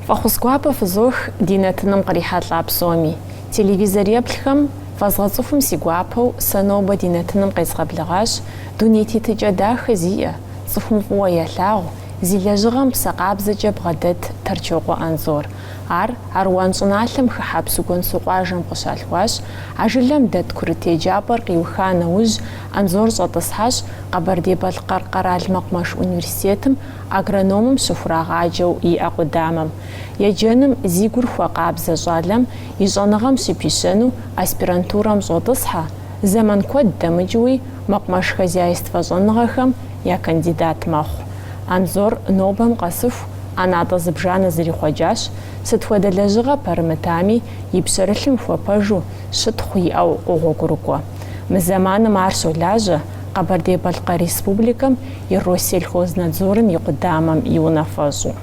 Фӏэхъус гуапэ фызох ди нэтыным кърихьэлӏа псоми. Телевизор еплъхэм, фэзгъэцӏыхум си гуапэу, сэ нобэ ди нэтыным къезгъэблэгъащ, дуней тетыкӏэ дахэ зиӏэ, цӏыхум фӏыуэ ялъагъу, Зи лэжьыгъэм псэ къабзэкӏэ бгъэдэт Торчокъуэ Анзор. Ар Аруан щӏыналъэм хыхьэ Псыгуэнсу къуажэм къыщалъхуащ. А жылэм дэт курыт еджапӏэр къиуха нэужь, Анзор щӏэтӏысхьащ Къэбэрдей-Балъкъэр къэрал мэкъумэш университетым агрономым щыхурагъаджэу иӏэ къудамэм. Еджэным зи гур хуэкъабзэ щӏалэм и щӏэныгъэм щыпищэну аспирантурэм щӏотӏысхьэ, зэман куэд дэмыкӏыуи мэкъумэш хозяйствэ щӏэныгъэхэм я кандидат мэхъу. Анзор нобэм къэсыху ӏэнатӏэ зыбжанэ зэрихъуэкӏащ, сыт хуэдэ лэжьыгъэ пэрымытами, и пщэрылъым хуэпэжу щытхъу иӏэу къогъуэгурыкӏуэ. Мы зэманым ар щолажьэ Къэбэрдей-Балъкъэр Республикэм и Россельхознадзорым и къудамэм и унафэщӏу.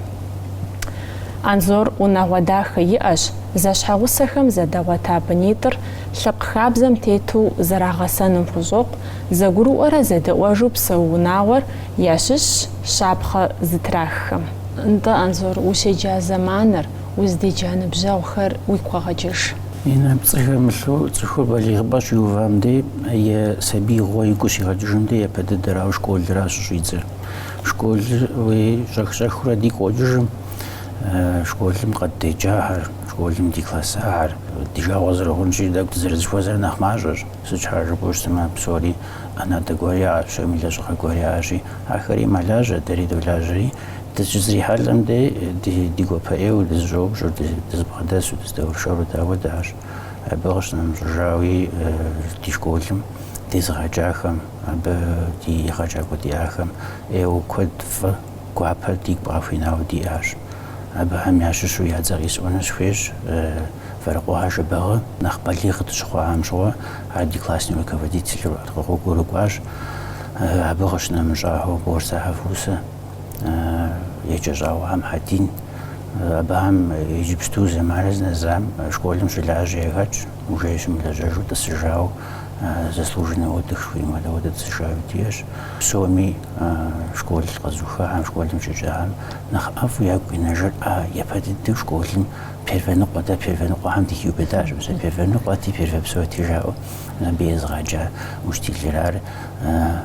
Анзор унагъуэ дахэ иӏэщ, зэщхьэгъусэхэм зэдагъуэта бынитӏыр лъэпкъ хабзэм тету зэрагъэсэным хущӏокъу, Зэгурыӏуэрэ зэдэӏуэжу псэу унагъуэр ящыщщ щапхъэ зытраххэм. Нтӏэ, Анзор, ущеджа зэманыр, узыдеджа ныбжьэгъухэр уигу къэгъэкӏыж. Инна, пцӏы хэмылъу, цӏыхур балигъыпӏэ щиувам де е сабиигъуэ игу щигъэкӏыжым де япэ дыдэрауэ школращ щыщӏидзэр. Школыр уи щӏэх-щӏэхыурэ дигу къокӏыж, мы школым къыддеджахэр, школым ди классахэр, ди жагъуэ зэрыхъунщи, тӏэкӏу дызэрызыхуэзэр нэхъ мащӏэщ. Сыт щхьа жыпӏэу щытмэ, а псори ӏэнатӏэ гуэр яӏэщ, псоми лэжьыгъэ гуэр яӏэщи, ахэри мэлажьэ, дэри долажьэри, дыщызрихьэлӏэм дей ди ди гуапэ ӏейуэ дызыщӏэупщӏэу, дызыбгъэдэсу, дыздэуэршэру апхуэдэщ, абы къыщынэмыщӏыжауи ди школым дезыгъэджахэм, абы ди егъэджакӏуэ диӏахэм ӏейуэ куэд фӏы, гуапэ дигу къахуинауэ диӏащ. Абыхэм ящыщу я цӏэ къисӏуэну сыхуейщ. Вэрыкъуэхэ Жэбагъы нэхъ балигъ дыщыхъуахэм щыгъуэ ар ди класснэ руководителу къыгъуэгурыкӏуащ. Абы къыщынэмыщӏахэу Борсэхэ Фусэ, Еджэщӏауэхэ Мухьэдин, абыхэм иджыпсту зы мэрыз нэзам школым щылажьэ яхэтщ, уже щымылэжьэжу тӏысыжауэ, заслуженнэ отдых жыхуаӏэм апхуэдэу тӏысыжауи диӏэщ. Псоми школ къэзыухахэм, школым щеджахэм нэхъ ӏэфӏу ягу къинэжыр а япэ дыдэу школым Первэ ныкъуэ-тӏэ, первэ ныкъуэхэм дыхиубыдащ мы сэ, первэ ныкъуэти, первэ псоти жаӏэу абы езыгъэджа учителыр ар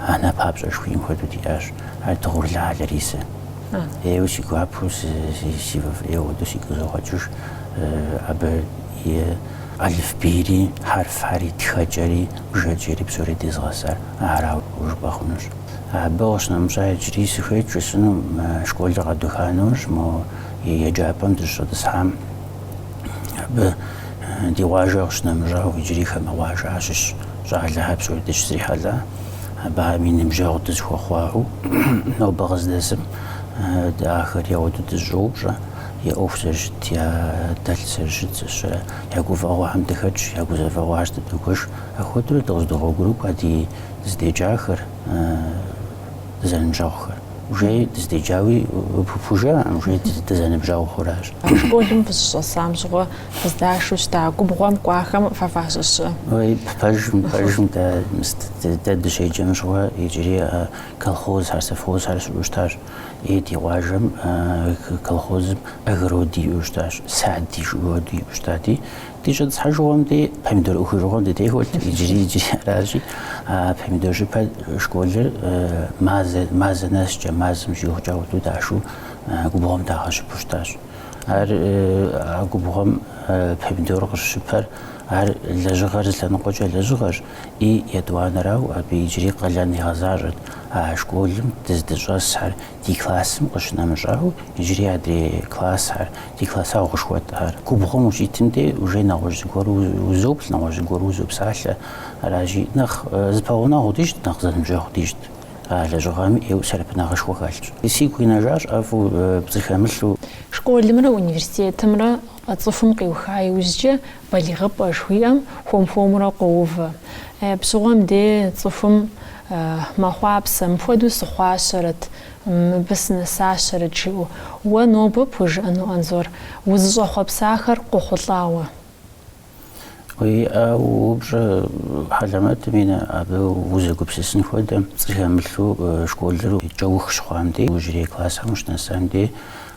анэ папщӏэ жыхуиӏэм хуэдэу диӏащ, ар Дыгъурлэ Ларисэ. Ӏейуэ си гуапэу, си фӏэфӏ ӏейуэ ауэдэу сигу къызогъэкӏыж абы и алыфбейри, хьэрфхэри, тхэкӏэри, бжэкӏэри псори дезыгъэсар арауэ жыпӏэ хъунущ. Абы къыщынэмыщӏа иджыри сыхуейт жысӏэну, мы школыр къэдуха нэужь, мо еджапӏэм дыщыщӏэтӏысхьам, абы ди къуажэ къыщынэмыщӏауэ иджыри хамэ къуажэ ящыщ щӏалэхэр псори дыщызрихьэлӏа, абыхэми ныбжьэгъу дызэхуэхъуауэ, нобэ къыздэсым дэ ахэр ауэдэу дызэщӏоупщӏэ, я ӏуэху зэрыщыт, я дэлъ зэрыщыт зыщэ, я гуфӏэгъуэхэм дыхэтщ, я гузэвэгъуэхэр дыдогуэш, апхуэдэурэ дыкъыздогъуэгурыкӏуэ ди дыздеджахэр. дызэныбжьэгъухэр. Уже дыздеджауи пхужыӏэм, уже дызэныбжьэгъухэу аращ. Школым фызыщӏэсам щыгъуэ фыздашу щыта губгъуэм кӏуахэм фэ фащыщ? Ой, пэжым, пэжым дэ, дэ дыщеджэм щыгъуэ иджыри колхозхэр, совхозхэр щыӏэу щытащ. И ди къуажэм колхозым огороди иӏэу щытащ, сади жыг хади иӏэу щытати, Ди щӏэтӏысхьэжыгъуэм дей помидор ӏухыжыгъуэм дытехуэт иджыри иджыри аращи, а помидор щыпэ школыр мазэ нэскӏэ, мазэм щӏигъукӏэ ауэдэу дашу губгъуэм дагъэщыпу щытащ. Ар а губгъуэм помидор къыщыщыпэр ар лэжьыгъэр зы лъэныкъуэкӏэ лэжьыгъэщ, и етӏуанэрау абы иджыри къалэн игъэзащӏэт а школым дыздыщӏэсхэр, ди классым къыщынэмыщӏауэ, иджыри адрей классхэр, ди классэгъу къышхуэтӏхэр. Губгъуэм ущитым дей уже нэгъуэщӏ зыгуэру узоплъ, нэгъуэщӏ зыгуэру узопсалъэ. Аращи, нэхъ зыпэгъунэгъуу дищӏт, нэхъ зэныбжьэгъуу дищӏт. А лэжьыгъэми ӏейуэ сэбэпынагъышхуэ хэлъщ. Сигу къинэжащ ӏэфӏу пцӏы хэмылъу. Школымрэ университетымрэ цӏыхум къиуха иужькӏэ Балигъыпӏэ жыхуиӏэм хуэм-хуэмурэ къоувэ. Е, абы щыгъуэм де цӏыхум мэхъуапсэ, мыпхуэдэу сыхъуащэрэт, мыбы сынэсащэрэт жиӏэу. Уэ нобэ пхужыӏэну, Анзор, узыщӏэхъуэпсахэр къохъулӏауэ? Уиӏэ упщӏэ, хьэлэмэтым и нэ, абы узэгупсысын хуэдэм, пцӏы хэмылъу школыр кӏэух щыхъуам дей, иужьрей классхэм ущынэсам дей,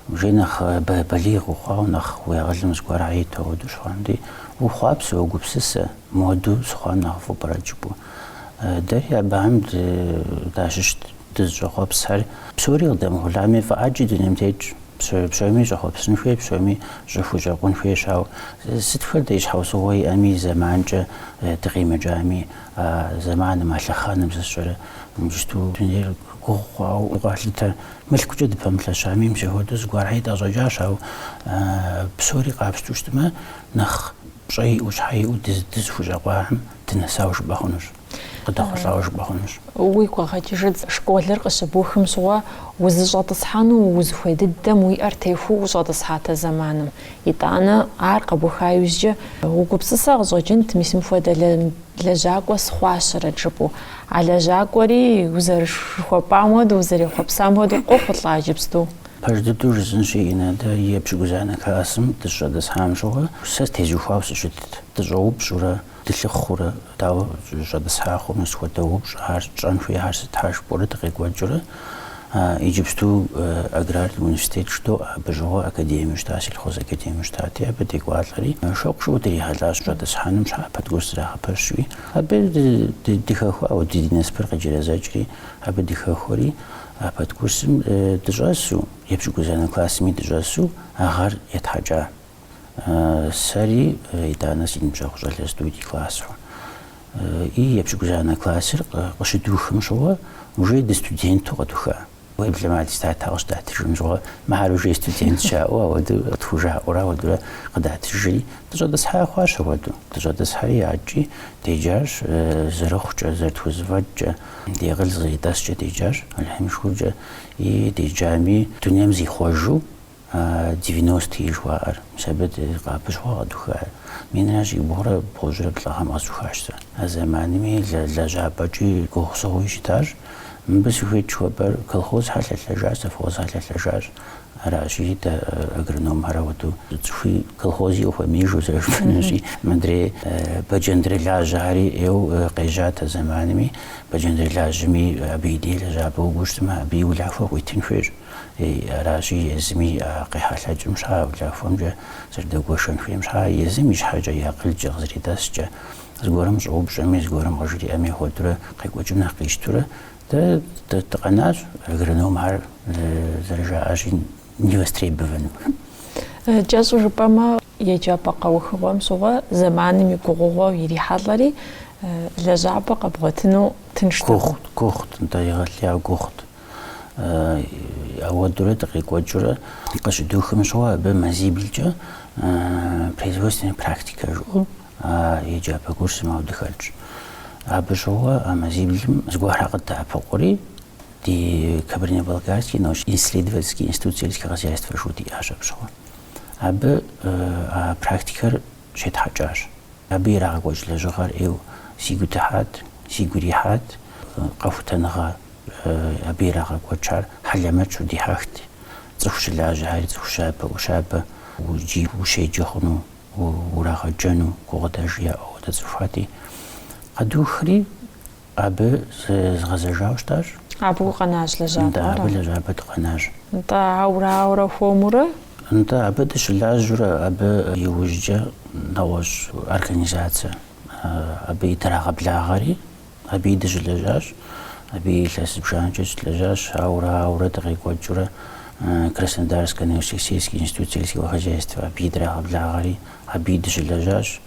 Уже нэхъ балигъ ухъуауэ нэхъ уи акъылым зыгуэрэ иту ауэдэу щыхъуам дей уохъуапсэ, уогупсысэ, моду сыхъуам нэхъыфӏ пӏэрэ жыпӏу. Дэри абыхэм дащыщт дызыщӏэхъуэпсхэр. Псори къыдэмыхъулӏами, фӏы ӏэджи дунейм тетщ. Псоми щӏэхъуэпсын хуей, псоми щӏыхущӏэкъун хуейщ. Ауэ сыт хуэдэ щхьэусыгъуэ иӏэми, и зэманкӏэ дыкъимыкӏами, а зэманым, а лъэхъэнэм зыщӏэрэ, иджыпсту дунейр Гугъу хъуауэ укъалъытэ. Мылъкукӏэ дыпэмылъэщами, пщэ хуэдэу зыгуэрхьи тӏэщӏэкӏащ, ауэ псори къапщту щытмэ, нэхъ пщӏэ иӏэу, щхьэ иӏэу дызыхущӏэкъуахэм дынэсауэ жыпӏэ хъунущ, къыдэхъулӏауэ жыпӏэ хъунущ. Уигу къэгъэкӏыжыт, школыр къыщыбухым щыгъуэ узыщӏэтӏысхьэну узыхуей дыдэм уи ӏэр техуу ущӏэтӏысхьатэ зэманым. Итӏанэ, ар къэбуха иужькӏэ, угупсысэ къыщӏэкӏынт, мис мыпхуэдэ Лэжьакӏуэ схъуащэрэт жыпӏэу. А лэжьакӏуэри, узэрыжыхуэпӏам хуэдэу, узэрехъуэпсам хуэдэу къохъулӏа иджыпсту. Пэж дыдэу жысӏэнщи, ина, дэ епщыкӏузанэ классым дыщӏэтӏысхьам щыгъуэ, сэ тезухуауэ сыщытт. Дыщӏэупщӏурэ, дылъыхъурэ, дауэ щӏэтӏысхьа хъуну, сыт хуэдэ упщӏэхэр тщӏэн хуей, ар сыт, ар жыпӏэурэ дыкъекӏуэкӏыурэ. А иджыпсту Аграрный университет щыту абы щыгъуэ академиэу щыта, сельхозакадемиэу щытати, абы декӏуалӏэри, щӏэуэ къащтауэ дрихьэлӏащ щӏэтӏысхьэным щхьа подкурс зэрагъэпэщуи. Абы дыхэхуауэ, ди ди насыпыр къеджэрэзэкӏри, абы дыхэхуэри, а подкурсым дыщӏэсу, епщыкӏузанэ классми дыщӏэсу а гъэр етхьэкӏа. Сэри итӏанэ си ныбжьэгъу щӏалэ студий классхэр и епщыкӏузанэ классыр къыщыдухым щыгъуэ уже дыстуденту къэдуха. Уеблэмэ аттестат къыщыдатыжым щыгъуэ мыхьэр уже студентщ жаӏэу ауэдэу къытхужаӏэурэ ауэдурэ къыдатыжри, дыщӏэтӏысхьа хъуащ ауэдэу. Дыщӏэтӏысхьэри адэкӏи деджащ зэрыхъукӏэ, зэрытхузэфӏэкӏкӏэ, ди акъыл зэритӏэскӏэ деджащ, Алыхьым и шыкуркӏэ. И деджами дунейм зихъуэжу А девяностые жыхуаӏэр, мис абы къабыщ хъуа къэдухар? Минрэ щибгъурэ бгъущӏрэ плӏы гъэм къэсухащ сэ. А зэманми лэжьапӏэкӏи гугъусыгъуи щытащ. Мыбы сыхуейт жыхуэпӏэр, колхозхэр лъэлъэжащ, совхозхэр лъэлъэжащ. Аращи, дэ агрономхэр ауэдэу цӏыхуи колхози къытхуэмеижу зэрыжыпӏэнущи, мыдрей бэджэндрылажьэхэри ӏейуэ къежьат а зэманми. Бэджэндрылажьэми абы и дей лэжьапӏэ укӏуэу щытмэ, абы и улахуэ къыуитын хуейщ. Ей, аращи, езыми къехьэлъэкӏым щхьа улахуэмкӏэ зэрыдэгуэшэн хуейм щхьа, езым и щхьэкӏэ и акъылкӏэ къызэритӏэскӏэ, зыгуэрым щӏэупщӏэми, зыгуэрым къыжриӏэми хуэдурэ къекӏуэкӏым нэхъ къищтурэ, дэ дыкъэнащ агрономхэр зэрыжаӏащи, невостребованным. Кӏэщӏу жыпӏэмэ, еджапӏэ къэухыгъуэм щыгъуэ зэманым и гугъугъуэу ирихьэлӏэри, лэжьапӏэ къэбгъуэтыну тынштэкъым. Гугъут, гугъут, нтӏэ, егъэлеяуэ гугъут. ауэдурэ дыкъекӏуэкӏыурэ къыщыдухым щыгъуэ абы мазиблкӏэ производственная практика жиӏэу а еджапӏэ курсым ауэдэ хэлъщ. Абы щыгъуэ а мазиблым зыгуэрхэр къыддэӏэпыкъури, ди Кабардино-Балкарский научно-исследовательский институт сельского хозяйства жиӏэу диӏащ абы щыгъуэ. Абы а практикэр щетхьэкӏащ. Абы ирагъэкӏуэкӏ лэжьыгъэр ӏейуэ си гу дыхьат, сигу ирихьат. Къэхутэныгъэ абы ирагъэкӏуэкӏар хьэлэмэтщ, удихьэхт. Цӏыху щылажьэхэри, цӏыху щабэ-ӏущабэ, уджи ущеджэ хъуну, урагъэджэну гукъыдэж яӏэу ауэдэ цӏыхухэти, къэдухри, Абы згъэзэжауэ щытащ. Абы укъэнащ лэжьапӏэ? Нтӏэ, абы лэжьапӏэ дыкъэнащ. Нтӏэ, ауэрэ, ауэрэ хуэмурэ? Нтӏэ, абы дыщылажьэурэ, абы иужькӏэ нэгъуэщӏ организацэ абыи драгъэблагъэри, абыи дыщылэжьащ, абыи илъэс зыбжанэкӏэ щылэжьащ, ауэрэ, ауэрэ дыкъекӏуэкӏыурэ Краснодарскэ научно-исследовательский институт сельского хозяйства абыи драгъэблагъэри, абыи дыщылэжьащ.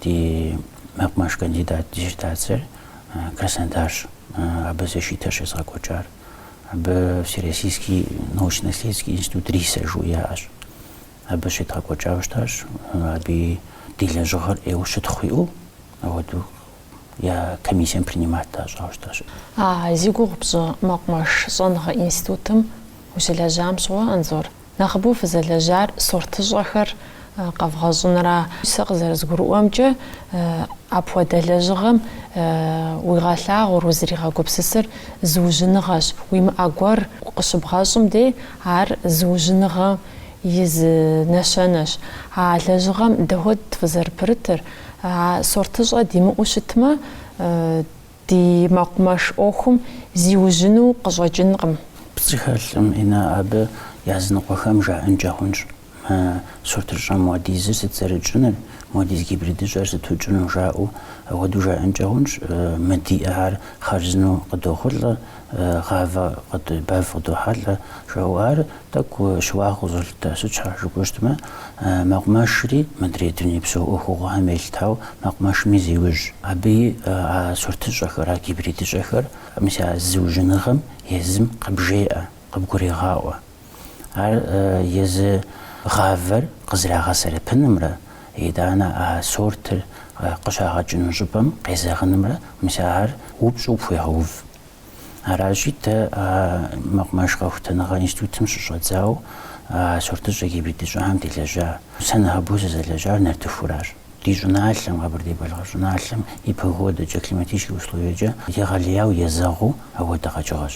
Ди мэкъумэш кандидат диссертацэр Краснодарщ абы защитэр щезгъэкӏуэкӏар. Абы Всероссийский научно-исследовательский институт риса жыу яӏэщ. Абы щедгъэкӏуэкӏауэ щытащ. Абы ди лэжьыгъэр ӏейуэ щытхъу иӏэу, ауэдэу я комиссием принимать дащӏауэ щытащ. А зи гугъу пщӏы мэкъумэш щӏэныгъэ институтым ущылэжьам щыгъуэ, Анзор, Нэхъыбэу фызэлэжьар сортыщӏэхэр къэвгъэщӏынра? Сэ къызэрызгурыӏуэмкӏэ, апхуэдэ лэжьыгъэм уигъэлъагъуэр, узригъэгупсысыр зыужьыныгъэщ. Уимыӏэ гуэр къыщыбгъэщӏым дей, ар зыужьыныгъэм и зы нэщэнэщ. А лэжьыгъэм дапхуэдэт фызэрыпэрытыр. А сортыщӏэ димыӏэу щытмэ, Ди мэкъумэш ӏуэхум зиужьыну къыщӏэкӏынкъым. Пцӏы хэлъкъым, Иннэ, абы языныкъуэхэм жаӏэнкӏэ хъунщ мы сортыщӏэ моуэдизыр сыт зэрытщӏыныр, моуэдиз гибридыщӏэр сыту тщӏыну жаӏэу. Апхуэдэу жаӏэнкӏэ хъунщ, мы диӏэхэр хъарзынэу къыдохъулӏэ, гъавэ бэв къыдохьэлӏэ жаӏэу. Ар Тӏэкӏу щыуагъэу къызолъытэ, сыт щхьэ жыпӏэу щытмэ, мэкъумэшри мыдрей дунейпсо ӏуэхугъуэхэм елъытауэ, мэкъумэшми зеужь, абыи а сортыщӏэхэр, а гибридыщӏэхэр, мис а зыужьыныгъэм езым къыбжеӏэ, къыбгурегъаӏуэ. Ар езы гъавэр къызэрагъэсэрэпынымрэ итӏанэ а сортыр къыщагъэкӏыну щӏыпӏэм къезэгъынымрэ мис ар упщӏэу пхуегъэув. Аращи, дэ а мэкъумэш къэхутэныгъэ институтым щыщӏэдзауэ а сортыщӏэ, гибридыщӏэхэм делэжьа. Сэ нэхъыбэу сызэлэжьар нартыхуращ. Ди щӏыналъэм, Къэбэрдей-Балъкъэр щӏыналъэм и погодэкӏэ, климатическэ условиекӏэ егъэлеяуэ езэгъыу апхуэдэ къэкӏыгъэщ.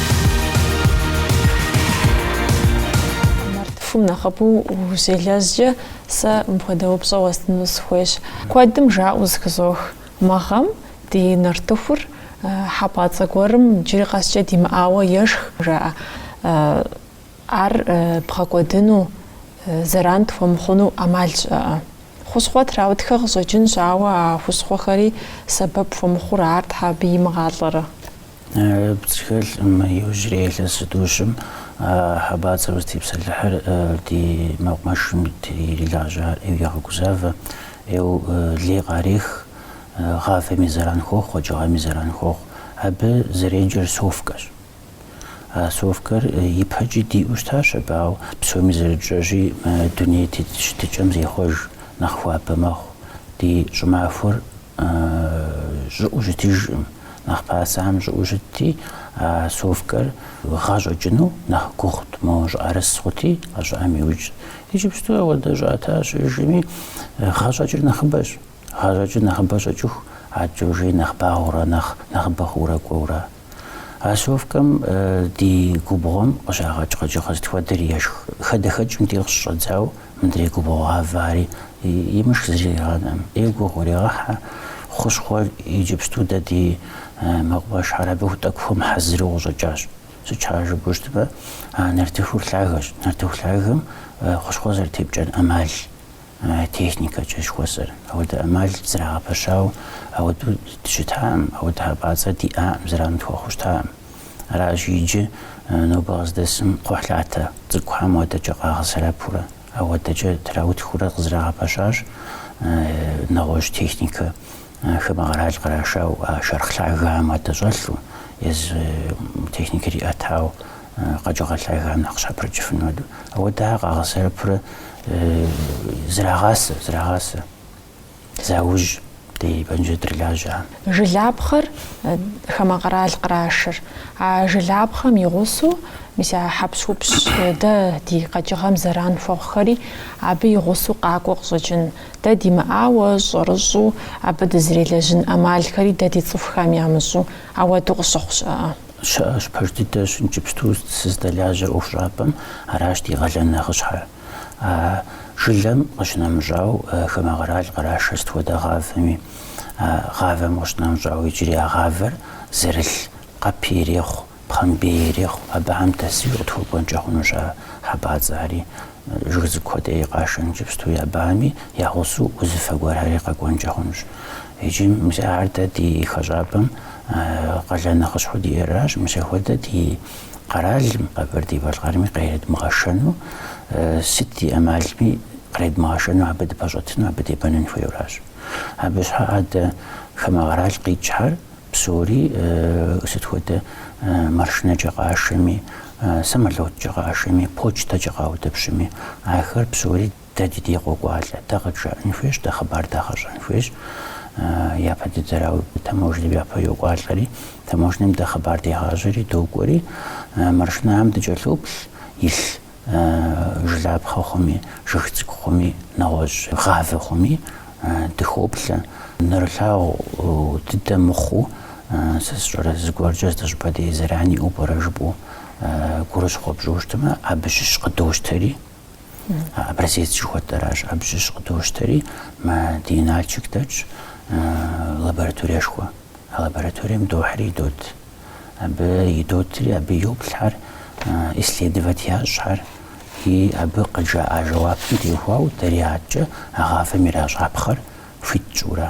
Нартыхум нэхъыбэу ущелэжькӏэ, сэ мыпхуэдэ упщӏэ уэстыну сыхуейщ. Куэдым жаӏэу зыхызох, мы гъэм ди нартыхур хьэпӏацӏэ гуэрым джыри къэскӏэ димыӏауэ ешх, жаӏэ. Ар бгъэкӏуэдыну, зэран тхуэмыхъуну ӏэмал щыӏэ? Хущхъуэ траутхэ къыщӏэкӏынщ, ауэ а хущхъуэхэри сэбэп хуэмыхъур ар щхьэ абы имыгъалӏэрэ? Пцӏы хэлъым иужьрей илъэсытӏущым а хьэбацӏэр узытепсэлъыхьыр ди мэкъумэшым ирилажьар ӏейуэ егъэгузавэ, ӏейуэ лей къарех, гъавэми зэран хуохъу, къэкӏыгъэми зэран хуохъу. Абы зэреджэр совкэщ. А совкэр ипэкӏи диӏэу щытащ абы, ауэ псоми зэрытщӏэщи мы дуней тет щытыкӏэм зехъуэж, нэхъ хуабэ мэхъу. Ди щӏымахуэр. щӏыӏэу щытыжкъым, нэхъ пасам щӏыӏэу щытти, а совкэр гъэщӏэкӏыну нэхъ гугъут, моуэ щӏыӏэрыс хъути, гъэ щӏыӏэм иужь. Иджыпсту ауэдэ щӏыӏэ тащ щыӏэжыми, гъэщӏэкӏыр нэхъыбэщ. Гъэщӏэкӏыр нэхъыбэ щӏэкӏыху, адэкӏэ жи нэхъ багъуэурэ, нэхъ нэхъыбэ хъуурэ кӏуэурэ. А совкэм ди губгъуэм къыщагъэкӏ къэкӏыгъэ сыт хуэдэри ешх. Хадэхэкӏым дей къыщыщӏэдзауэ мыдрей губгъуэ гъавари имышх зыри къигъанэӏым. ӏейуэ гугъу урегъэхьэ, хущхъуэ иджыпсту дэ ди мэкъумэшхьэр абы ху тӏэкӏу хуэмыхьэзыру къыщӏэкӏащ. Сыт щхьа жыпӏэу щытмэ, а нартыхур лъагэщ. Нартыху лъагэм хущхъуэ зэрытепкӏэн ӏэмал. техникэкӏэ жыхуэсӏэр. Ауэдэ ӏэмал зрагъэпэщауэ ауэдэу дыщытаӏым, ауэдэ хьэпӏацӏэ диӏаӏым, зэран тхуэхъуу щытаӏым. Аращи, иджы нобэ къыздэсым кхъухьлъатэ цӏыкӏухэм ауэдэкӏэ къагъэсэбэпурэ, ауэдэкӏэ траутхыурэ къызрагъэпэщащ нэгъуэщӏ техникэ хамэ къэрал кърашауэ шэрхъ лъагэхэм ауэдэ щӏэлъу, езы техникэр иӏэтау къэкӏыгъэ лъагам нэхъ щхьэпрыкӏыфын хуэдэу. Ауэдэ ар къагъэсэбэпурэ зрагъасэ, зрагъасэ. Заужь ди бэнджэдырылажьэхэм. Жылапхъэр хамэ къэрал кърашыр. А жылапхъэм и гъусэу мис а хьэпщхупщ дэ ди къэкӏыгъэм зэран хуэхъухэри абы и гъусэу къакӏуэу къыщӏэкӏын. Дэ димыӏауэ, щӏэрыщӏу абы дызрелэжьын ӏэмалхэри дэ ди цӏыхухэм ямыщӏу ауэдэу къыщыхъу щыӏэ. Щыӏэщ, пэж дыдэщ иджыпсту сыздэлажьэр ӏуэхущӏапӏэм, аращ ди къалэн нэхъыщхьэр. А жылэм къыщынэмыщӏау хамэ къэрал кърашэ сыт хуэдэ гъавэми. А гъавэм къыщынэмыщӏау иджыри а гъавэр зэрылъ къэпи ирехъу, пхъэмбей ирехъу. Абыхэм дэсуи къытхуэкӏуэнкӏэ хъунущ а хьэбацӏэхэри. Жыг цӏыкӏу хуэдэи къашэн иджыпсту абами, я гъусэу узыфэ гуэрхэри къэкӏуэнкӏэ хъунущ. Иджы мис ар дэ ди хэщӏапӏэм къалэн нэхъыщхьэу диӏэращ. Мис ахуэдэ ди къэралым, Къэбэрдей-Балъкъэрми къыредмыгъэшэну, сыт ди ӏэмалми къыредмыгъэшэну абы дыпэщӏэтыну, абы дебэнэн хуейуэращ. Абы щхьэкӏэ дэ хамэ къэрал къикӏхьэр. Псори, сыт хуэдэ маршынэкӏэ къашэми, самолёткӏэ къашэми, почтэкӏэ къаутӏыпщми, ахэр псори дэ ди дей къокӏуалӏэ. Дэ къыджаӏэн хуейщ, дэ хъыбар дагъэщӏэн хуейщ. Япэ дыдэрауэ таможнэм япэ йокӏуалӏэри, таможнэм дэ хъыбар дегъащӏэри, докӏуэри, маршынэхэм дыкӏэлъоплъ, илъ. жылапхъэ хъуми, жыг цӏыкӏу хъуми, нэгъуэщӏ гъавэ хъуми дыхоплъэ. Нэрылъагъу дыдэ мыхъуу, сэ сщӏэрэ, зыгуэркӏэ зыщӏыпӏэ дей зэран иӏэу пӏэрэ жыпӏэу гурыщхъуэ пщӏыуэ щытмэ, абы щыщ къыдощтэри, образец жыхуэтӏэращ, абы щыщ къыдощтэри мы ди Налшык дэтщ лабораториешхуэ, а лабораторием дохьри дот. абы идотри, абы йоплъхьэр, исследовать ящӏхьэр, и абы къыджаӏа жэуапым теухуауэ дэри адэкӏэ а гъавэм иращӏапхъэр хуит тщӏыурэ.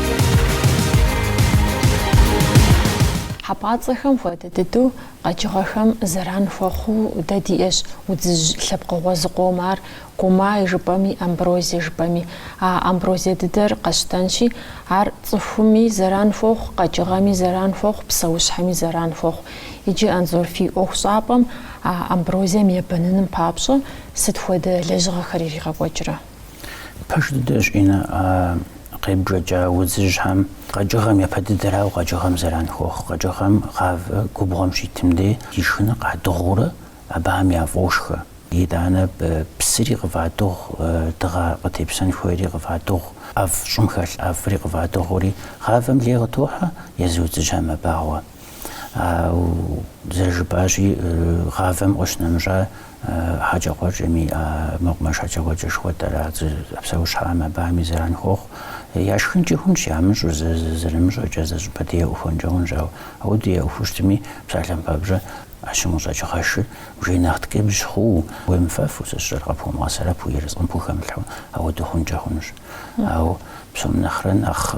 Хьэпӏацӏэхэм хуэдэ дыдэу къэкӏыгъэхэм зэран хуэхъуу дэ диӏэщ удзыжь лъэпкъыгъуэ зыкъом, ар Гумай жыпӏэми, Амброзие жыпӏэми. А Амброзие дыдэр къэсщтэнщи, ар цӏыхуми зэран хуохъу, къэкӏыгъэми зэран хуохъу, псэущхьэми зэран хуохъу. Иджы Анзор фи ӏуэхущӏапӏэм а Амброзием ебэныным папщӏэ сыт хуэдэ лэжьыгъэхэр иригъэкӏуэкӏрэ? Пэж дыдэщ Инна къебжэкӏа удзыжьхэм. Къэкӏыгъэм япэ дыдэрауэ къэкӏыгъэм зэран хуохъу. Къэкӏыгъэм гъавэ губгъуэм щитым дей и шхыныр къадыгъуурэ абыхэм яфӏошхэ. Итӏанэ псыри къыфӏадыгъу, дыгъэ къытепсэн хуейри къыфӏадыгъу, ӏэфӏ щӏым хэлъ ӏэфӏри къыфӏадыгъури гъавэм лей къытохьэ, езы удзыжьхэм мэбагъуэ. Ауэ зэрыжыпӏащи, гъавэм къыщынэмыщӏа Хьэкӏэкхъуэкӏэми а мэкъумэш хьэкӏэкхъуэкӏэ жыхуэтӏэр а псэущхьэхэм абами зэран хуохъу. Яшхынкӏи хъунщ, ямыщӏу, зэрымыщӏэкӏэ зыщӏыпӏэ дей яӏухуэнкӏэ хъунщ, ауэ ауэду яӏухуэу щытми, псалъэм папщӏэ ӏэщым къыщӏэкӏ гъэшыр уже нэхъ ткӏыбжь хъууэ, уемыфэфу, сэ сщӏэрэ къэпхуэмыгъэсэрэпу, ерыскъым пхухэмылъхьэу, ауэду хъункӏэ хъунущ. Ауэ псом нэхърэ нэхъ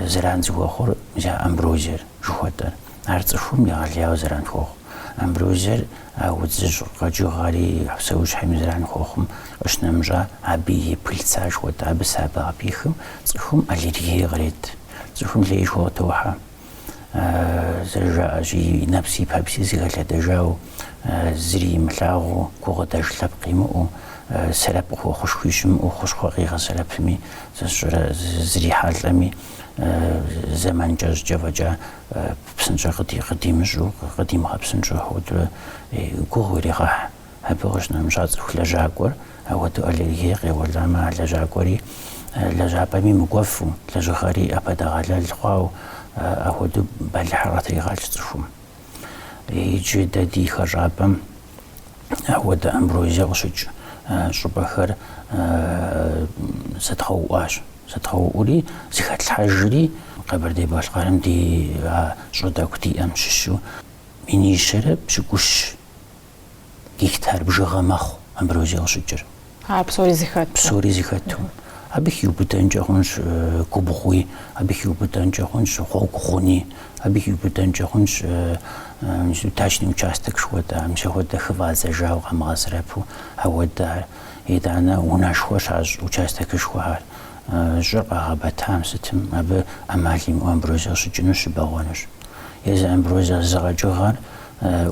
зэран зыхуэхъур мис а амброзиер. Жыхуэтӏэр. Ар цӏыхум егъэлеяуэ зэран хуохъу. Амброзиер а удзыжь къэкӏыгъэри а псэущхьэми зэран хуохъум къыщынэмыщӏа, абы и пыльца жыхуэтӏэ. Абы сабэ къыпихым, цӏыхум аллергие кърет. Цӏыхум лейшхуэ къытохьэ. Зэрыжаӏэщи, нэпси пэпси зыхэлъэдэжау, зыри имылъагъуу, гукъыдэж лъэпкъ имыӏэу, сэрэп къыхуэхъушхуи щымыӏэу, хущхъуэ къигъэсэрэпми, сэ сщӏэрэ зрихьэлӏэми, зэман кӏэщӏкӏэ фӏэкӏа псынщӏэ къыдимыщӏу, къыдимыгъэпсынщӏу ахуэдэурэ гугъу ирегъэхь. Абы къыщынэмыщӏа цӏыху лэжьакӏуэр, апхуэдэу аллергие къеуэламэ, а лэжьакӏуэри лэжьапӏэми мыкӏуэфу, лэжьыгъэри ӏэпэдэгъэлэл хъуау, апхуэдэу бэлыхьыр къытригъэлъщ цӏыхум. Иджы дэ ди хэщӏапӏэм апхуэдэ амброзие къыщыкӏ щӏыпӏэхэр зэдгъэуӏуащ. Зэдгъэуӏури, зыхэтлъхьэжри Къэбэрдей-Балъкъэрым ди щӏы тӏэкӏу диӏэм щыщу минищэрэ пщыкӏущ гектар бжыгъэ мэхъу амброзие къыщыкӏыр. А, псори зыхэту. Псори зыхэту. Абы хиубыдэнкӏэ хъунщ губгъуи, абы хиубыдэнкӏэ хъунщ гъуэгу гъуни, абы хиубыдэнкӏэ хъунщ дачный участок жыхуэтӏэ, мис ахуэдэ хыфӏадзэжауэ къамыгъэсэрэпу ауэдэр, итӏанэ унэшхуэ щащӏ участокышхуэхэр, щӏыр къагъэбэтам сытым абы ӏэмал имыӏэу амброзиер щыкӏынущ, щыбэгъуэнущ. Езы амброзиер зы къэкӏыгъэр,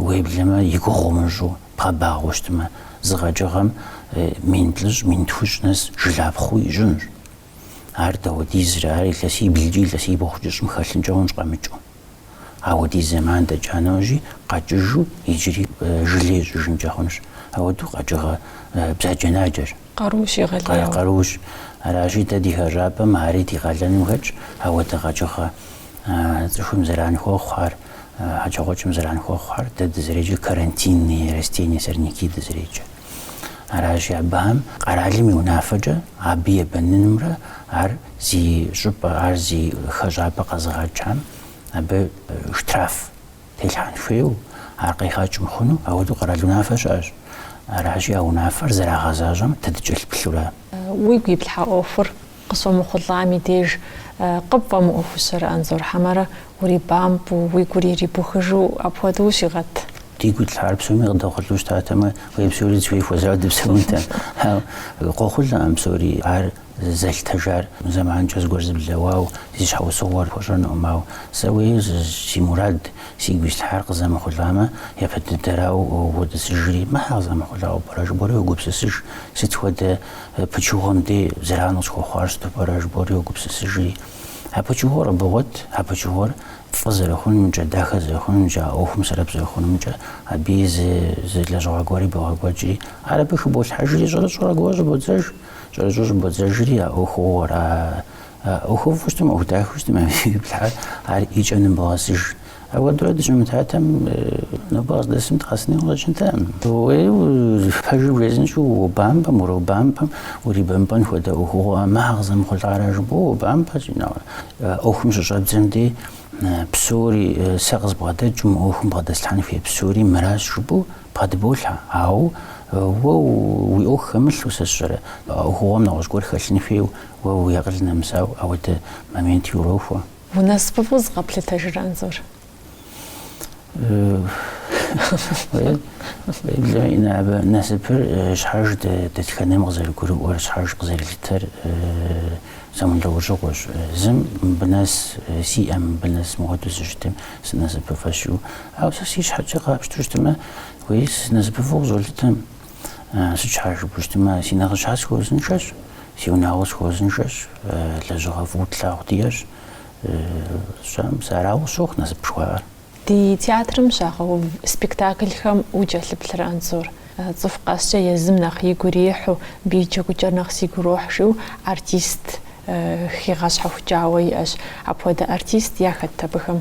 уеблэмэ, и гугъу умыщӏу, Бгъэбагъуэу щытмэ, зы къэкӏыгъэм мин плӏыщӏ, мин тхущӏ нэс жылапхъэу ищӏынущ. Ар дауэдизрэ, ар илъэсиблкӏи илъэсибгъукӏи щӏым хэлъынкӏэ хъунщ къэмыкӏыу. Ауэдиз зэман дэкӏа нэужьи, къэкӏыжу иджыри жылэ ищӏыжынкӏэ хъунущ. Ауэдэу къэкӏыгъэ бзаджэнаджэр къарущ, егъэлеяуэ къарущ. Аращи, дэ ди хэщӏапӏэм ари ди къалэным хэтщ, ауэдэ къэкӏыгъэ цӏыхум зэран хуэхъухэр. хьэкӏэкхъуэкӏэм зэран хуэхъухэр, дэ дызреджэр карантинные растения сорняки дызреджэ. Аращи, абыхэм къэралым и унафэкӏэ абы ебэнынымрэ ар зи щӏыпӏэ, ар зи хэщӏапӏэ къэзыгъэкӏам абы штраф телъхьэн хуейуэ, ар къигъэкӏ мыхъуну, ауэдэу къэрал унафэ щыӏэщ. Аращи, а унафэр зэрагъэзащӏэм дэ дыкӏэлъыплъурэ. Уигу иплъхьа ӏуэхур Къыщомыхъулӏам и деж къыпфӏэмыӏуэхущэрэ, Анзор хьэмэрэ урибампӏэу, уи гур ирибухыжу апхуэдэу ущигъэт. Дигу итлъхьар псоми къыдэхъулӏэу щытатэмэ, уэй псори зыхуей хуэзауэ дыпсэунтэм. Ауэ къохъулӏэкъым псори, ар зэлъытыжар зэманкӏэ зыгуэр зыблэуауэ, зи щхьэусыгъуэр пхуэщӏэнукъым. Ауэ сэ уэй си мурад, сигу ислъхьар къызэмыхъулӏамэ, япэ дыдэрауэ уодысыжри, мыр щхьэ къызэмыхъулӏауэ пӏэрэ жыбоӏэри уогупсысыж, сыт хуэдэ Пычыгъуэм де зэран къысхуэхъуар сыту пӏэрэ жыбоӏэри уогупсысыжри. А пычыгъуэр къыбогъуэт, а пычыгъуэр фӏы зэрыхъунумкӏэ, дахэ зэрыхъунумкӏэ, а ӏуэхум сэрэп зэрыхъунумкӏэ, абыи зы, зы лэжьыгъэ гуэри богъэкӏуэкӏри. Ар абы хыболъхьэжри, щӏэрыщӏэу аргуэру щӏыбодзэж. Щӏэрыщӏэу щӏыбодзэжри, а ӏуэхугъуэр, а ӏуэхуфӏу щытым, ӏуэху дахэу щытым абы ириплъхьар, ар и кӏэм ныбогъэсыж. Ауэдурэ дыщымытатэм нобэ къыздэсым дыкъэсыну къыщӏэкӏынтэкъым. Уей уэ пэжыр урезынщӏэу уобампӏэм, уробампӏэм, урибэмпӏэн хуэдэ ӏуэхугъуэ ӏэмэ, къызэмыхъулӏара жыпӏэу уобампӏэщи, ӏуэхум щыщӏэбдзэм дей псори, сэ къызбгъэдэкӏыу мы ӏуэхум бгъэдэслъхьэн хуей псори мыращ жыпӏэу бгъэдыболъхьэ. Ауэ уэ уи ӏуэху хэмылъу сэ сщӏэрэ? Ӏуэхугъуэм нэгъуэщӏ гуэр хэлъын хуейуэ уэ уи акъыл нэмысауэ ауэдэ моменти урохуэ. Унасыпыфӏэу зыкъэплъытэжрэ, Анзор? Уеблэ Инэ, абы, насыпыр щхьэж дэтхэнэм къызэрыгурыӏуэр, щхьэж къызэрылъытэр зэмылӏэужьыгъуэщ. Зым мыбы нэс сиӏэм, мыбы нэс мыпхуэдэу сыщытым, сынасыпыфӏэщ жиӏэу. Ауэ сэ си щхьэкӏэ къапщту щытмэ, уей сынасыпыфӏу къызолъытэм. Сыт щхьа жыпӏэу щытмэ, си нэхъыжьхэр схуэузыншэщ, си унагъуэр схуэузыншэщ, лэжьыгъэ фӏыуэ тлъагъу диӏэщ. Щӏэм сэ арауэ сщохъу насып жыхуаӏэр. Ди театрым щагъэув спектаклхэм укӏэлъыплърэ, Анзор? Цӏыху къэскӏэ езым нэхъ игу ирихьу, абы и джэгукӏэр нэхъ сигу ирохь жиӏэу артист хигъэщхьэхукӏауэ иӏэщ. Апхуэдэ артист яхэт абыхэм?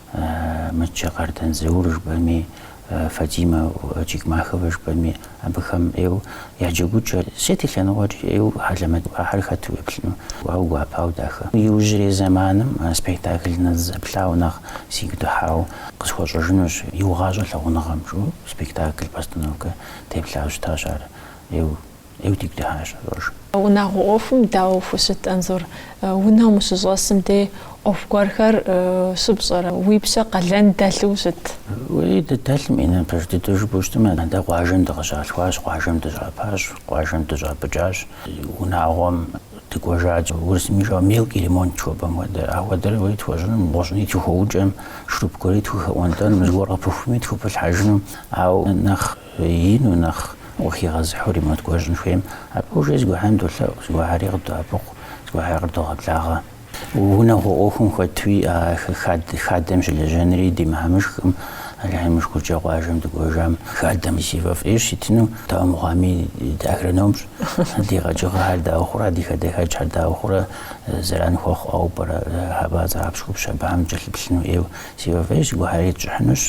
Мычэ Къардэн Заур жыпӏэми, Фатимэ Чехмахова жыпӏэми, абыхэм ӏейуэ я джэгукӏэ, сыт и лъэныкъуэкӏи ӏейуэ хьэлэмэт ахэр хэту уеплъыну, ауэ гуапауэ дахэ. Иужьрей зэманым спектакль сызэплъауэ нэхъ сигу дыхьауэ къысхуэщӏэжынущ, Иугъащӏэ лъагъуныгъэм, жиӏэу спектакль, постановкэ деплъауэ щытащ ар ӏейуэ. Ӏейуэ дигу дыхьащ Зуржым. Унагъуэ ӏуэхум дауэ фыщыт, Анзор? Унэм ущыщӏэсым де ӏуэху гуэрхэр щыпщӏэрэ? Уи пщэ къалэн дэлъу щыт? Уей, дыдэлъым, Инэ, пэж дыдэу жыпӏэу щытмэ, атӏэ къуажэм дыкъыщалъхуащ, къуажэм дыщапӏащ, къуажэм дыщӏапӏыкӏащ. Унагъуэм дыкӏуэжат, урысым жиӏэу мелкий ремонт жыхуэпӏэм хуэдэ. Апхуэдэр уей тхуэщӏынум, гъущӏӏуни тхухэукӏэм, шуруп гуэри тхухэӏуэнтӏэнум, зыгуэр къыпыхуми тхупылъхьэжынум. Ауэ нэхъ Ину нэхъ ухигъэзыхьу ремонт гуэр щӏын хуейм, абы ужей згухьэм долъэӏу, згухьэри къыдоӏэпыкъу, згухьэри къыдогъэблагъэ. Унагъуэ ӏуэхум хуэдэуи, а хадэм щылэжьэнри ди мыхьэмышхкъым, Алыхьым и шыкуркӏэ къуажэм дыкӏуэжам хадэм си фӏэфӏ ӏейщ итыну, дауэ мыхъуами, дыагрономщ, ди къэкӏыгъэхэр дауэ хъурэ, ди хадэхэкӏхэр дауэ хъурэ зэран хуэхъу ӏэуэ пӏэрэ, хьэпӏацӏэ, хьэпщхупщ, абыхэм кӏэлъыплъыну ӏейуэ, си фӏэфӏ ӏейщ, згухьэри тщӏыхьынущ,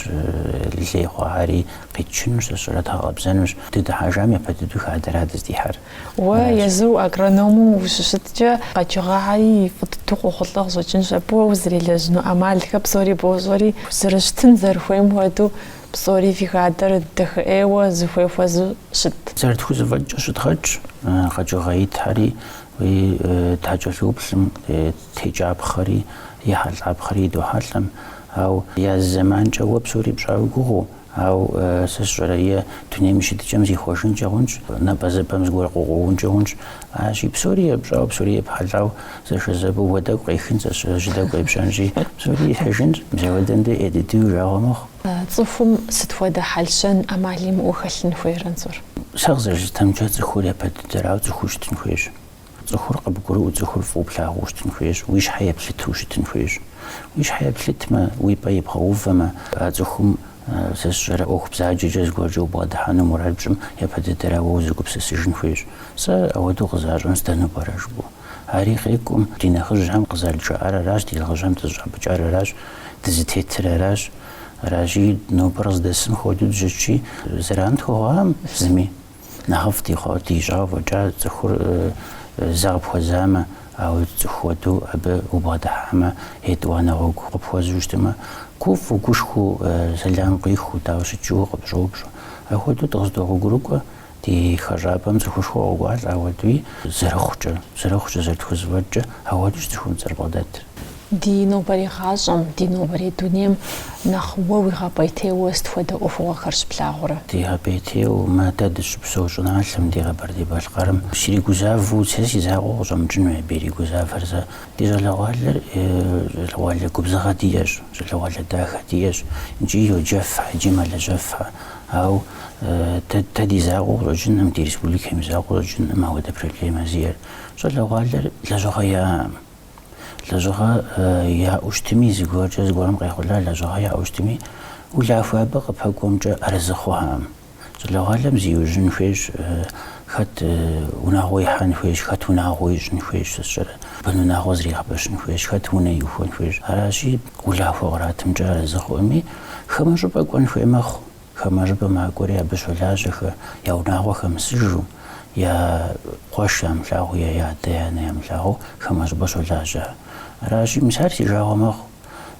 лей хъуахэри Къитчынущ, зэщӏэдгъэкъэбзэнущ. Дыдыхьэжам япэ дыдэу хадэра дыздихьэр. Уэ езыу агроному ущыщыткӏэ, къэкӏыгъэхэри и фӏы дыдэу къохъулӏэ къыщӏэкӏынщ. Абы уэ узэрелэжьыну ӏэмалхэр псори бощӏэри, зэрыщытын зэрыхуейм хуэдэу псори фи хадэр дахэ ӏейуэ зыхуей хуэзэу щыт. Зэрытхузэфӏэкӏкӏэ щыдгъэкӏ къэкӏыгъэ итхэри, уи такӏэлъыуплӏым текӏэпхъэри, ехьэлӏапхъэри идохьэлӏэм. Ау я зы зэманкӏэ уэ псори пщӏа уи гугъэу, ау сэ сщӏэрэ е дунейм и щытыкӏэм зихъуэжынкӏэ хъунщ, напӏэзыпӏэм зыгуэр къыкъуэункӏэ хъунщ. Арщи, псори епщӏауэ, псори епхьэлӏау зэшэзэпӏэу уэ тӏэкӏу къехынщ, сэ сщӏэрэ жьы тӏэкӏу къепщэнщи, псори ихьыжынщ. Мис ауэдэм дей ӏей дыдэу уи жагъуэ мэхъу. Цӏыхум сыт хуэдэ хьэл-щэн, ӏэмал имыӏэу хэлъын хуейр, Анзор? Сэ къызэрыслъытэмкӏэ, цӏыхур япэ дыдэрауэ цӏыхуу щытын хуейщ. Цӏыхур къыбгурыӏуэу цӏыхур фӏыуэ плъагъуу щытын хуейщ, уи щхьэ еплъытэу щытын хуейщ. Уи щхьэ еплъытмэ, уи пӏэ ибгъэувэмэ, а цӏыхум сэ сщӏэрэ ӏуэху бзаджэкӏэ зыгуэркӏэ убгъэдыхьэну мурад пщӏым япэ дыдэрауэ узэгупсысыжын хуейщ. Сэ ауэдэу къызащӏэм сдэну пӏэрэ жыпӏэу? Ари къекӏум, ди нэхъыжьхэм къызэрыджаӏар аращ, ди нэхъыжьхэм дызыщӏапӏыкӏар аращ, дызытетыр аращ. Аращи, нобэр къыздэсым хуэдэу дыщытщи, зэран дыхуэхъуам зыми. Нэхъыфӏ дищӏауэ фӏэкӏа цӏыхур зэ къыпхуэзамэ, ауэ цӏыху хуэдэу абы убгъэдыхьамэ, етӏуанэ гъуэгу къыпхуэзу щытмэ, гуфӏэу, гушхуэу, сэлам къуихыу, дауэ ущыт жиӏэу къыпщӏоупщӏэ. Апхуэдэу дыкъыздогъуэгурыкӏуэ ди хэщӏапӏэм цӏыхушхуэ къокӏуалӏэ, ауэдуи зэрыхъукӏэ, зэрыхъукӏэ, зэрытхузэфӏэкӏкӏэ, ауэдущ цӏыхум дызэрыбгъэдэтыр. Ди нобэрей гъащӏэм, ди нобэрей дунейм нэхъ уэ уигъэпӏейтейуэ сыт хуэдэ ӏуэхугъуэхэр щыплъагъурэ? Дигъэпӏейтейуэ, мы дэ дыщыпсэу щӏыналъэм, ди Къэбэрдей-Балъкъэрым сригузавэу, сэ си закъуэу къыщӏэмыкӏынуи абы иригузавэр зэ. Ди щӏалэгъуалэр щӏалэгъуалэ губзыгъэ диӏэщ, щӏалэгъуалэ дахэ диӏэщ икӏи йоджэфхьэ, икӏи мэлэжьэфхьэ. Ауэ дэ ди закъуэу къыщӏэкӏыным, ди республикэм и закъуэу къыщӏэкӏыным ауэдэ проблемэ зиӏэр. Щӏалэгъуалэр лэжьыгъэ яӏэкъым. Лэжьыгъэ яӏэу щытми, зыгуэркӏэ зыгуэрым къехъулӏа лэжьыгъэ яӏэу щытми, улахуэ абы къыпэкӏуэмкӏэ арэзы хъухэм. Щӏалэгъуалэм зиужьын хуейщ, хэт унагъуэ ихьэн хуейщ, хэт унагъуэ ищӏын хуейщ, сэ сщӏэрэ, бын унагъуэ зригъэпэщын хуейщ, хэт унэ иухуэн хуейщ. Аращи, улахуэ къратымкӏэ арэзы хъуэми, хамэ щӏыпӏэ кӏуэн хуей мэхъу. Хамэ щӏыпӏэ макӏуэри абы щолажьэхэ, я унагъуэ хэмысыжу, я къуэш ямылъагъуу е я адэ, я анэ ямылъагъуу хамэ щӏыпӏэ щолажьэ. Аращи, мис ар си жагъуэ мэхъу.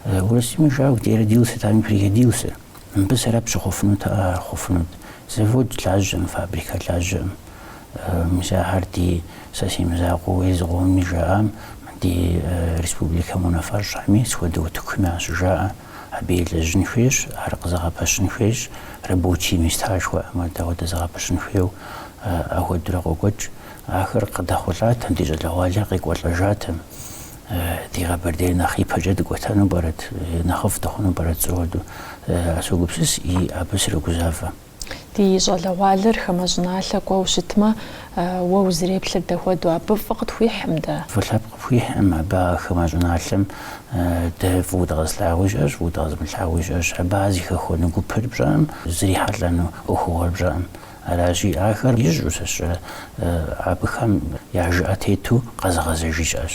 Урысым и жыӏауэ, где родился там и пригодился. Мыбы сэбэп щыхъуфынутэӏэ, ар хъуфынут. Завод лажьэм, фабрикэ лажьэм. Мис ахэр ди сэ си мызакъуэу езыхэми жаӏам, ди республикэм и унафэщӏхэми, сыт хуэдэ утыкуми ащыжаӏэ. Абы елэжьын хуейщ, ар къызэгъэпэщын хуейщ, рабочие месташхуэ амадауэдэ зэгъэпэщын хуейуэ ахуэдурэ къокӏуэкӏ. Ахэр къыдэхъулӏатэм, ди щӏалэгъуалэр къекӏуэлӏэжатэм, ди Къэбэрдейр нэхъ ипэкӏэ дыкӏуэтэну пӏэрэт, нэхъыфӏ дыхъуну пӏэрэт жысӏэу ауэду, согупсыс и абы срогузавэ. Ди щӏалэгъуалэр хамэ щӏыналъэ кӏуэу щытмэ, уэ узыреплъыр дэ хуэдэу, абы фӏы къытхуихьым дэ? Фӏы лъэпкъ къыпхуихьым, абы а хамэ щӏыналъэм дэ фӏыуэ дыкъэзылъагъуи щыӏэщ, фӏыуэ дыкъэзымылъагъуи щыӏэщ. Абы ар зыхэхуэну гупыр пщӏэкъым, зрихьэлӏэну ӏуэхугъуэр пщӏэкъым. Аращи, ахэр ищӏу сэ сщӏэрэ, абыхэм я жыӏэ тету къэзыгъэзэжи щыӏэщ.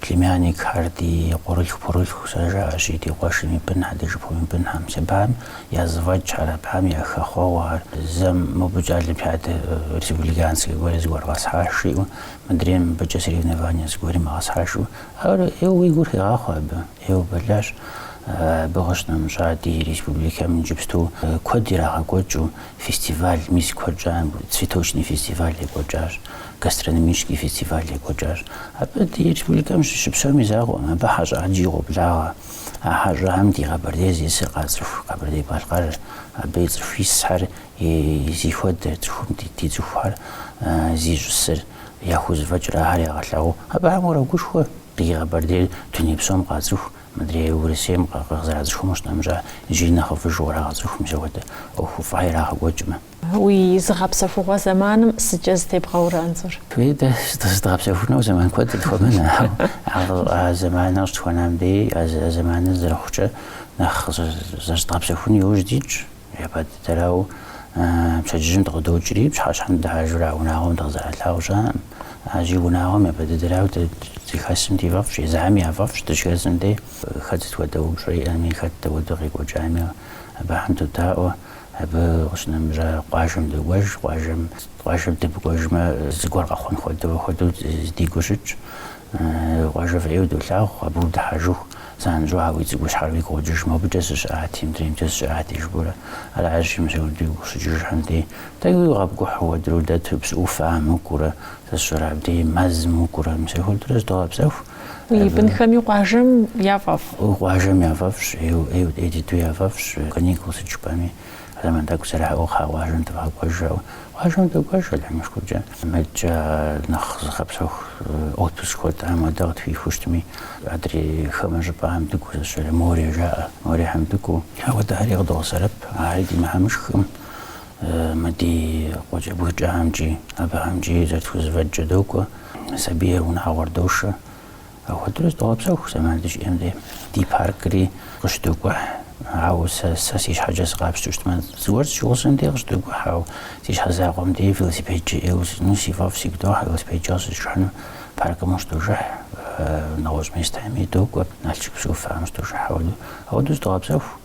Племянникхэр ди къуэрылъху-пхъурылъху зэрыжаӏэщи, ди къуэшым и бынхьэ, ди шыпхъум и бынхьэм, мис абыхьэм я зэфӏэкӏхьэр, абыхьэм я хэхъуэгъуэ ар, зэм мобыкӏэ олимпиадэ республиканскэ гуэри зыгуэр къэсхьащ, жиӏэу, мыдрейм мыбыкӏэ соревнование зыгуэрым къэсхьащ жиӏэу, ар ӏейуэ уи гур хегъахъуэ абы, ӏейуэ бэлыхьщ, абы къыщынэмыщӏа ди республикэм иджыпсту куэд ирагъэкӏуэкӏыу фестиваль, мис куэд щӏам цветочный фестиваль екӏуэкӏащ. гастрономический фестиваль екӏуэкӏащ. Абы ди республикэм щыщыпсэум и закъуэм, абы хьэщӏэ ӏэджи къоблагъэ. А хьэщӏэхьэм ди Къэбэрдей зищӏысыр къацӏыху Къэбэрдей-Балъкъэр, абы цӏыху исхэр зыхуэдэр, цӏыхум ди, ди цӏыхухэр зищӏысыр, яхузэфӏэкӏыр ахэр ягъэлъагъуэ. Абыхьэм урогушхуэ, ди Къэбэрдейр дуней псом къацӏыху, мыдрей Урысейм къызэрацӏыхум щынэмыщӏа, иджыри нэхъыфӏыжу кърагъэцӏыху мис апхуэдэ ӏуэхуфӏхьэ ирагъэкӏуэкӏмэ. Уи зыгъэпсэхугъуэ зэманым сыткӏэ зытебгъэурэ Анзор? Фи дэ зыщыдгъэпсэхунэу зэман куэд къытхуэмынэ, ауэ а зэманыр къыщытхуэнам дей, а зэманыр зэрыхъукӏэ нэхъ зэрызыдгъэпсэхун иужь дитщ. Япэ дыдэрауэ пщэдджыжьым дыкъыдокӏри, пщыхьэщхьэм дыхьэжурэ а унагъуэм дыкъызэралъагъу щыӏэкъым. Аращи, унагъуэм япэ дыдэрауэ дэ дыхэсым ди фӏэфӏщ, езыхэм я фӏэфӏщ дыщыхэсым дей. Хэт сыт хуэдэ упщӏэ иӏэми, хэт дэ хуэдэу къекӏуэкӏами абыхэм додаӏуэ. Абы къыщынэмыщӏа къуажэм докӏуэж, къуажэм, къуажэм дымыкӏуэжмэ, зыгуэр къэхъун хуэдэу, хуэдэу ди гур щытщ. Къуажэ фӏы ӏейуэ долъагъу, абы удыхьэжыху, занщӏэу а уи цӏыкӏущхьэр уигу къокӏыж, мобыкӏэ сыщыӏати, мыдреймкӏэ сыщыӏати, жыпӏэурэ. Аращи, мис абы дигу къыщыкӏыжхэм дей, тӏэкӏуи къэпкӏухьу ауэдурэ удэту, псы ӏуфэхьэм укӏуурэ, сэ сщӏэрэ абдеи мэзым укӏуурэ, мис апхуэдэурэ зыдогъэпсэху. Уи бынхэми къуажэм яфӏэфӏ. Къуажэм яфӏэфӏщ, ӏей дыдэу яфӏэфӏщ. Каникул сыт жыпӏэми, а зэман тӏэкӏу зэраӏэу кхъа къуажэм дывгъэкӏуэж жаӏэу. Къуажэм докӏуэж, Алыхьым и шыкуркӏэ. Мыдкӏэ нэхъ зыгъэпсэху отпуск хуэдэ, апхуэдэ къытхуихыу щытми, адрей хамэ щӏыпӏэхэм дыкӏуэу сщӏэрэ, море жаӏэ, морехьэм дыкӏуэу. Ауэдэхэри къыдогъэсэрэп, ари ди мыхьэмышхкъым. Мы ди къуэкӏэ бгыкӏэхэмкӏи абыхэмкӏи зэрытхузэфӏэкӏкӏэ докӏуэ, сабийр унагъуэр дошэ. Апхуэдэурэ зыдогъэпсэху зэман дыщиӏэм дей. Ди паркри къыщыдокӏухь, ауэ сэ, сэ си щхьэкӏэ сыкъапщтэу щытмэ, зыгуэр щызигъусэм дей къыщыдокӏухь, ауэ си щхьэ закъуэм дей велосипедкӏэ ӏейуэ сытесыну сфӏэфӏ сигу дохьэ, велосипедкӏэ къыщызжыхьыну. Паркым щыдожыхь, нэгъуэщӏ местами докӏуэ, Налшык Псыӏуфэм щыдожыхь, апхуэдэу. Апхуэдэу зыдогъэпсэху.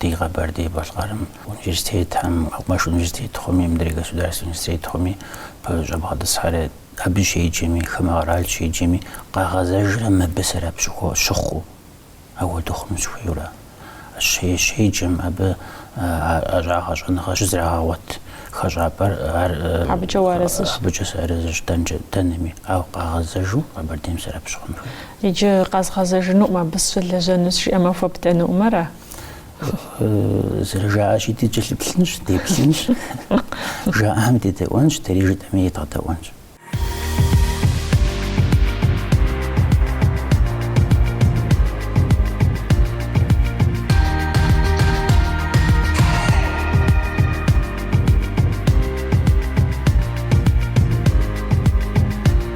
Ди Къэбэрдей-Балъкъэрым университетхэм, мэкъумэш университетхэми, мыдрей государственнэ университетхэми бгъэщӏэбгъэтӏысхьэрэ, абы щеджэми, хамэ къэрал щеджэми къагъэзэжрэ мыбы сэрэп щыхъуу, апхуэдэу хъуну щыхуейуэрэ. Щеджэм абы а щӏа, щӏэныгъэр щызэрагъэгъуэт хэщӏапӏэр, ар абыкӏэ сыарэзыщ. Абыкӏэ сыарэзыщ дэнкӏэ дэнэми, ауэ къагъэзэжу Къэбэрдейм сэрэп щыхъун хуейщ. Иджы къэзгъэзэжынукъым абы сщылэжьэну жиӏэмэ хуэбдэнукъым, ара? Зэрыжаӏэщи, дыкӏэлъыплъынщ, деплъынщ, жаӏэм дедэӏуэнщ, дэри жытӏэми едгъэдэӏуэнщ.